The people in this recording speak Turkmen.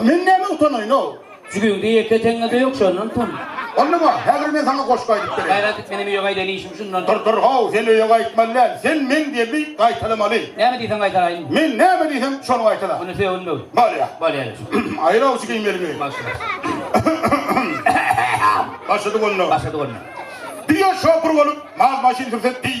Men näme utanaýyn-ow? Jübüňde ýeke teňňe-de ýok, şondan utan. Boldumy? Häzir men saňa goşgy aýdyp bereýin. Gaýrat et, menem öýe gaýdaýyn, işim şundan. Dur, dur, how, sen öýe gaýtmaly däl. Sen meň gelni gaýtalamaly. Näme diýseň gaýtalaýyn. Men näme diýsem, şony gaýtala. Onda sögün böw. Bolýa. Bolýa ýaş. Aýyr awçy geýmeliňi. Başla. Başlady bolna. Başlady bolna. Diýýä, şopur bolup, mal-maşyn sürse diý.